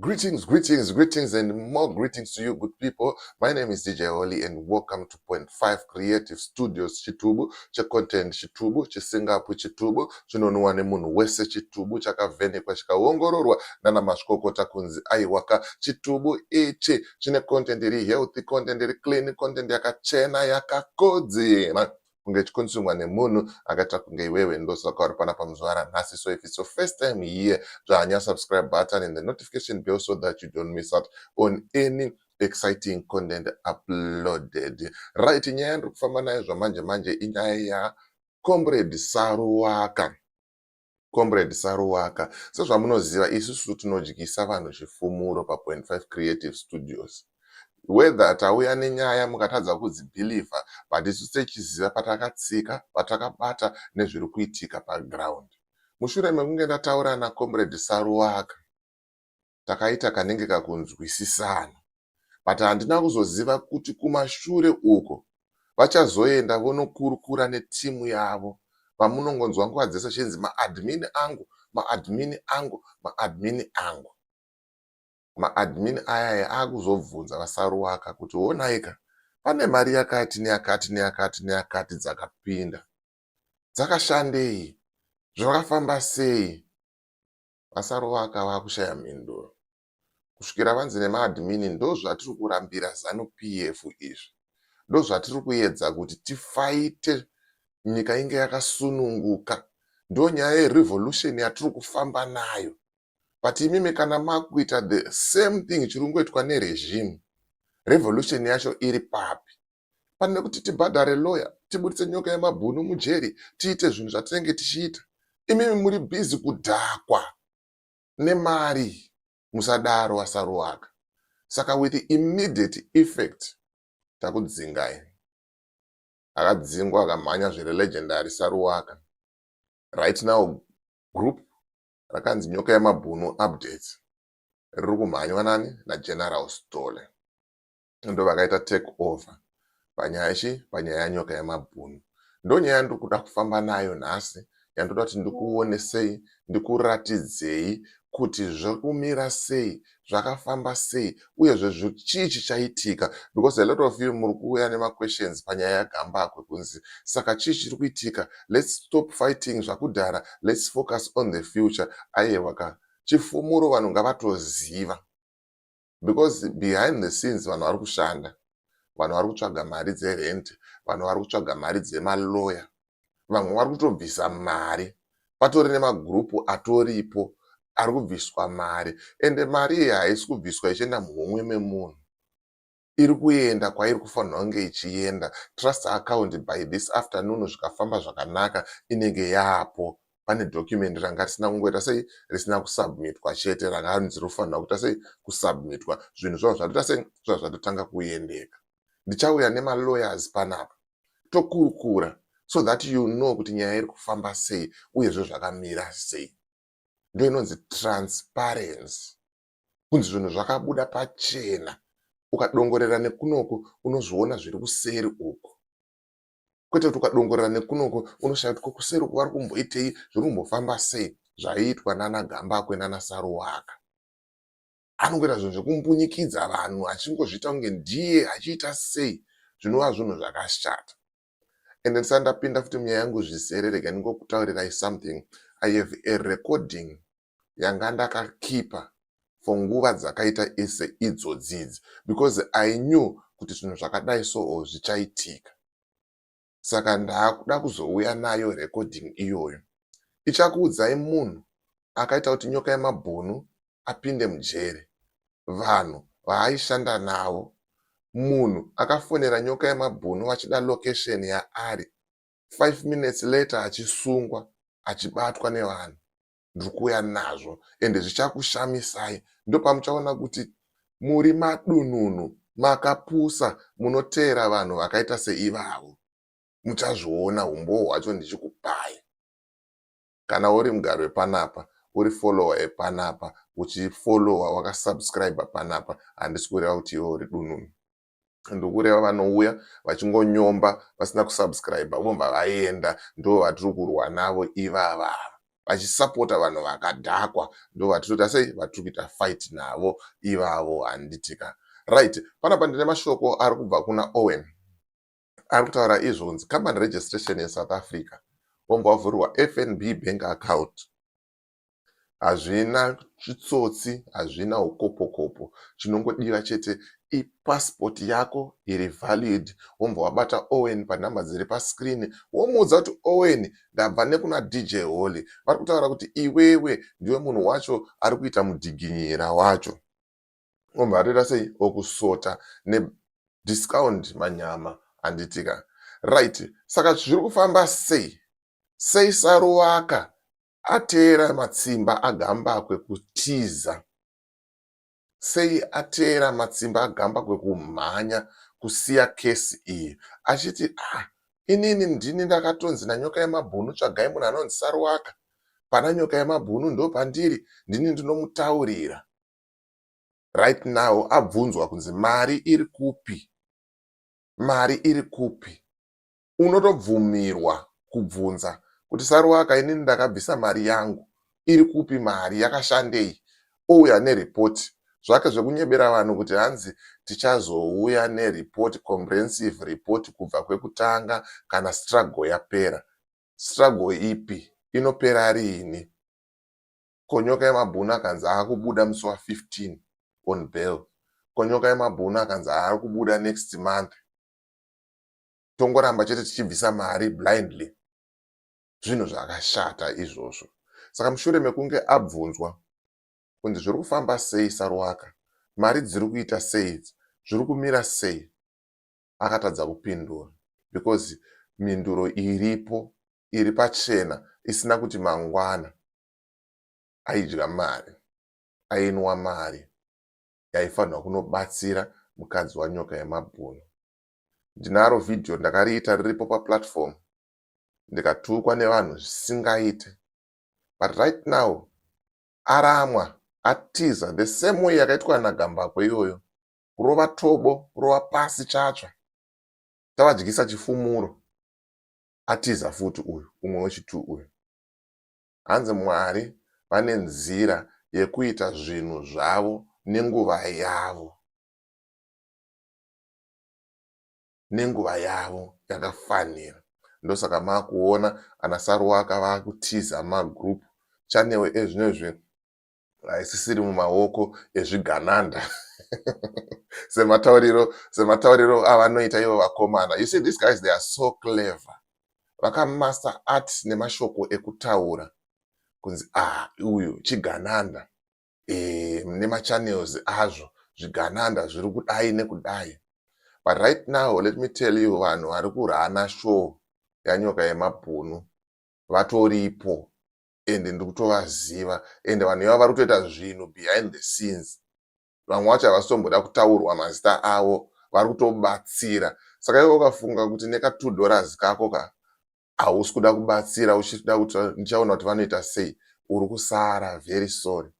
Greetings, greetings, greetings, and more greetings to you, good people. My name is DJ Holly, and welcome to Point Five Creative Studios Chitubu, cha content Chitubu, chisingapu Chitubu, chinonwa nemunhu wese Chitubu, chakavhenekwa chikaongororwa nana mazvikokota kunzi aiwaka Chitubu ichi chine content iri healthy, content iri clean, content yakachena yakakodzera. kunge chikunsungwa nemunhu akaita kunge iwewe ndosaka uri pana pamuzvara nhasi so if it's your first time here dzvanya subscribe button and the notification bell so that you don't miss out on any exciting content uploaded right nyaya yandiri kufamba nayo zvamanje manje inyaya ya comrade saruwaka Comrade Saruwaka, sezvamunoziva isusu tinodyisa vanhu chifumuro pa Point Five Creative Studios. Whether tauya nenyaya mukatadza kudzibhilivha but isu techiziva patakatsika, patakabata nezviri kuitika paground. Mushure mekunge ndataura naComrade Saruwaka, takaita kanenge kakunzwisisana but handina kuzoziva kuti kumashure uko vachazoenda vonokurukura netimu yavo vamunongonzwa nguva dzese chinzi maadmin angu maadmin angu maadmin angu maadmin ayaya akuzobvunza vasaruwaka kuti wonaika pane mari yakati neyakati neyakati neyakati dzakapinda dzakashandei zvakafamba sei VaSaruva akava akushaya mhinduro. Kusvikira vanzi nemaadmin ndozvatiri kurambira Zanu PF izvi. Ndozvatiri kuedza kuti tifaite nyika inge yakasununguka. Ndonyaya yerevolution yatiri kufamba nayo. But imimi kana makuita the same thing chiri kungoitwa neregime, revolution yacho iri papi? pane kuti tibhadhare lawyer tiburitse nyoka yemabhunu mujeri tiite zvinhu zvatinenge tichiita imimi muri bhizi kudhakwa nemari musadaro asaruwaka saka with immediate effect takudzingai akadzingwa akamhanya zviri legendary saruwaka right now group rakanzi nyoka yemabhunu updates riri kumhanywa nani nageneral stole ndovakaita take over panyaya ichi panyaya yanyoka yemabhunu ndonyaya yandiri kuda kufamba nayo nhasi yandoda kuti ndikuonesei ndikuratidzei kuti zviri kumira sei zvakafamba sei uyezve chii chichaitika because a lot of you muri kuuya nemaquestions panyaya yagambakwe kunzi saka chii chiri kuitika lets stop fighting zvakudhara lets focus on the future aiwa ka chifumuro vanhu ngavatoziva because behind the scenes vanhu vari kushanda vanhu vari kutsvaga mari dzerent vanhu vari kutsvaga mari dzemaloya vamwe vari kutobvisa mari patori nemagurupu atoripo ari kubviswa mari ende mari iyi haisi kubviswa ichienda muhomwe memunhu iri kuenda kwairi kufanira kunge ichienda trust account by this afternoon zvikafamba zvakanaka inenge yaapo pane document ranga risina kungoita sei risina kusubmitwa chete ranga anzi rofanira kuita sei kusubmitwa zvinhu zvavo zvatoita sei zvava zvatotanga kuendeka ndichauya nemalawyers panapa tokurukura so that you know kuti nyaya iri kufamba sei uyezve zvakamira sei ndo inonzi transparency kunzi zvinhu zvakabuda pachena ukadongorera nekunoku unozviona zviri kuseri uku kwete kuti ukadongorera nekunoko unoshaya kuti kokuseri uko vari kumboitei zviri kumbofamba sei zvaiitwa nana gambakwe nana saruwaka anongoita zvinhu zvekumbunyikidza vanhu achingozviita kunge ndiye achiita sei zvinova zvinhu zvakashata and ndisati ndapinda futi munyaya yangu zvisere rega ndingokutaurirai something i have a recording yanga ndakakipa for nguva dzakaita ese idzodzidzi because i knew kuti zvinhu zvakadai soo zvichaitika saka ndaakuda kuzouya nayo recording iyoyo ichakuudzai munhu akaita kuti nyoka yemabhunu apinde mujeri vanhu vaaishanda navo munhu akafonera nyoka yemabhunu vachida location yaari 5 minutes later achisungwa achibatwa nevanhu ndiri kuuya nazvo ende zvichakushamisai ndopamuchaona kuti muri madununu makapusa munoteera vanhu vakaita seivavo muchazviona umbowo hwacho ndichikupai kana uri mugari wepanapa uri follower epanapa uchifollowa wakasubscribe panapa handisi kureva kuti iwe uri dununu ndokureva vanouya vachingonyomba vasina kusubscribe vobva vaenda ndo vatiri kurwa navo ivava vachisapota vanhu vakadhakwa ndo vatitoita sei vatiri kuita fight navo ivavo handitika right panapa ndine mashoko ari kubva kuna owen ari kutaura izvo kunzi company registration yesouth africa vombovavhurirwa fnb bank account hazvina chitsotsi hazvina hukopokopo chinongodiwa chete ipassport yako iri valid wombva wabata owen panumber dziri pascreen womuudza kuti owen ndabva nekuna dj holy vari kutaura kuti iwewe ndiwe munhu wacho ari kuita mudhiginyira wacho wombva atoita sei okusota nediscount manyama anditika right saka zviri kufamba sei sei saruvaka Ateera matsimba agambakwe kutiza. Sei ateera matsimba agambakwe kumhanya kusiya kesi iyi achiti ah inini ndini ndakatonzi nanyoka yemabhunu tsvagai munhu anonzi saruwaka pana nyoka yemabhunu ndo pandiri ndini ndinomutaurira right now abvunzwa kunzi mari iri kupi mari iri kupi unotobvumirwa kubvunza kuti Saruwaka inini ndakabvisa mari yangu iri kupi mari yakashandei ouya nereport zvake zvekunyebera vanhu kuti hanzi tichazouya nereport comprehensive report kubva kwekutanga kana struggle yapera struggle ipi inopera riini konyoka yemabhunu akanzi akubuda musi wa 15 on bail konyoka yemabhunu akanzi ari kubuda next month tongoramba chete tichibvisa mari blindly zvinhu zvakashata izvozvo saka mushure mekunge abvunzwa kunzi zviri kufamba sei saruwaka mari dziri kuita sei zviri kumira sei akatadza kupindura because mhinduro iripo iri pachena isina kuti mangwana aidya mari ainwa mari yaifanirwa kunobatsira mukadzi wanyoka yemabhunu ndinaro video ndakariita riripo paplatform ndikatukwa nevanhu zvisingaite but right now aramwa atiza the same way yakaitwa nagambakwe iyoyo kurova tobo kurova pasi chatsva tavadyisa chifumuro atiza futi uyu umwe wechitu uyu hanzi mwari vane nzira yekuita zvinhu zvavo nenguva yavo nenguva yavo yakafanira ndosaka makuona ana saruwaka vakutiza magroup channel ezvinezvi haisisiri mumaoko ezvigananda sematauriro sematauriro avanoita ivo vakomana you see these guys they are so clever vakamasta art nemashoko ekutaura kunzi ah uyu chigananda eh, nemachannels azvo zvigananda zviri kudai nekudai but right now let me tell you vanhu vari kurana show yanyoka yemabhunu vatoripo and ndiri kutovaziva and vanhu iva vari kutoita zvinhu behind the scenes vamwe vacho havasitomboda kutaurwa mazita avo vari kutobatsira saka iwe ukafunga kuti neka two dollars kako ka hausi kuda kubatsira uchida kuti ndichaona kuti vanoita sei uri kusara very sorry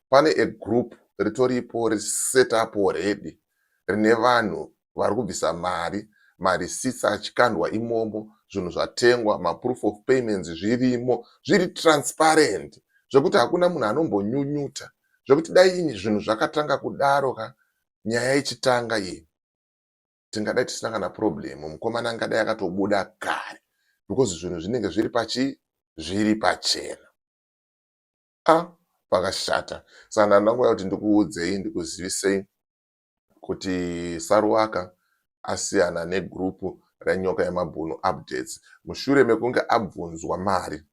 pane a group ritoripo riset up already rine vanhu vari kubvisa mari marisitsi achikandwa imomo zvinhu zvatengwa maproof of payments zvirimo zviri transparent zvekuti hakuna munhu anombonyunyuta zvekuti dai zvinhu zvakatanga kudaro ka nyaya ichitanga iyi tingadai tisina kana problem mukomana angadai akatobuda kare because zvinhu zvinenge zviri pachi zviri pachena a ah, pakashata sana ndangoya kuti ndikuudzei ndikuzivisei kuti saruwaka asiyana negrupu renyoka yemabhunu updates mushure mekunge abvunzwa mari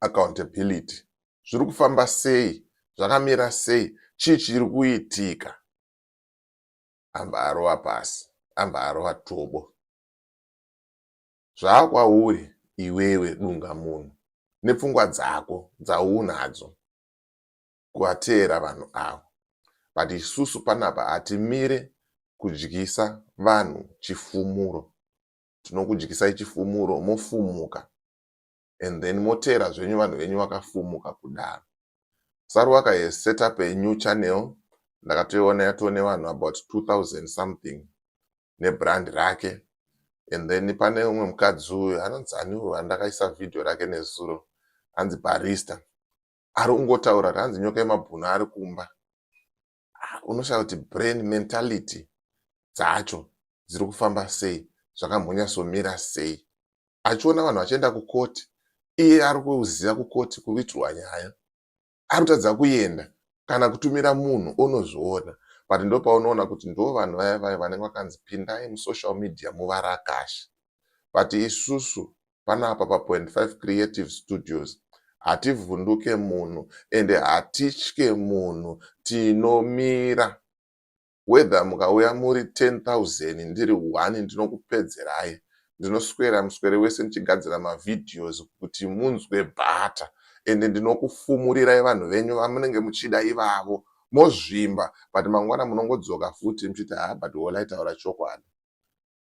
accountability zviri kufamba sei zvakamira sei chii chiri kuitika ambva arova pasi ambva arova tobo zvaakwauri iwewe dunga munhu nepfungwa dzako dzaunadzo kuvateera vanhu avo but isusu panapa hatimire kudyisa vanhu chifumuro tinokudyisai chifumuro mofumuka and then moteera zvenyu vanhu venyu vakafumuka kudaro saruwaka has set up a new channel ndakatoiona yatoo nevanhu about 2000 something nebrand rake and then pane umwe mukadzi uyu anonzi aniwo andakaisa vhidhiyo rake nezuro anzi barista ari kungotaura kuti anzi nyoka yemabhunu ari kumba ah, unoshaya kuti brain mentality dzacho dziri kufamba sei zvakamhonyasomira sei achiona vanhu vachienda kukoti iye ari kuziva kukoti kuitirwa nyaya ari kutadza kuenda kana kutumira munhu onozviona but ndo paunoona kuti ndo vanhu vaya vaya vanenge vakanzi pindai musocial media muvarakashi but isusu panapa pa point 5 creative studios hativhunduke munhu ende hatitye munhu tinomira whether mukauya muri 10000 ndiri one ndinokupedzerai ndinoswera muswere wese ndichigadzira mavhideos kuti munzwe bhata ende ndinokufumurirai vanhu venyu vamunenge muchida ivavo mozvimba but mangwana munongodzoka futi muchiti haa but wolai taura chokwadi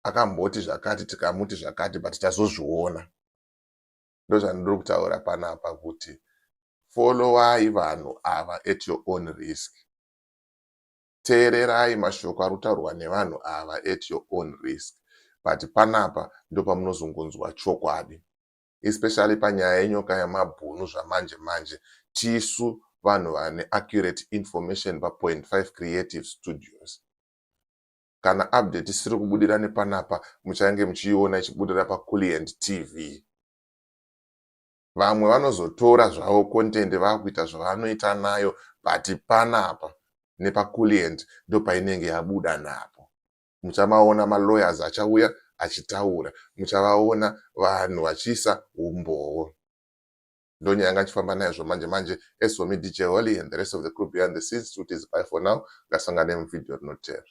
akamboti zvakati tikamuti zvakati but tazozviona ndozvandiri kutaura panapa kuti followai vanhu ava at your own risk teererai mashoko ari kutaurwa nevanhu ava at your own risk but panapa ndopamunozongonzwa chokwadi especially panyaya yenyoka yemabhunu zvamanje manje tisu vanhu vane accurate information papoint 5 creative studios Kana update isiri kubudira nepanapa muchange muchiiona ichibudira paKulliant TV. Vamwe vanozotora zvavo content vakuita zvavanoita nayo but panapa nepaKulliant ndopainenge yabuda napo. Muchamaona malawyers achauya achitaura, muchavaona vanhu vachiisa umbowo. ndonyaya yanga achifamba nayo zvomanje manje as for me dj holly and the rest of the crew behind the scenes tikuti zipai for now ngasangane muvideo rinoteera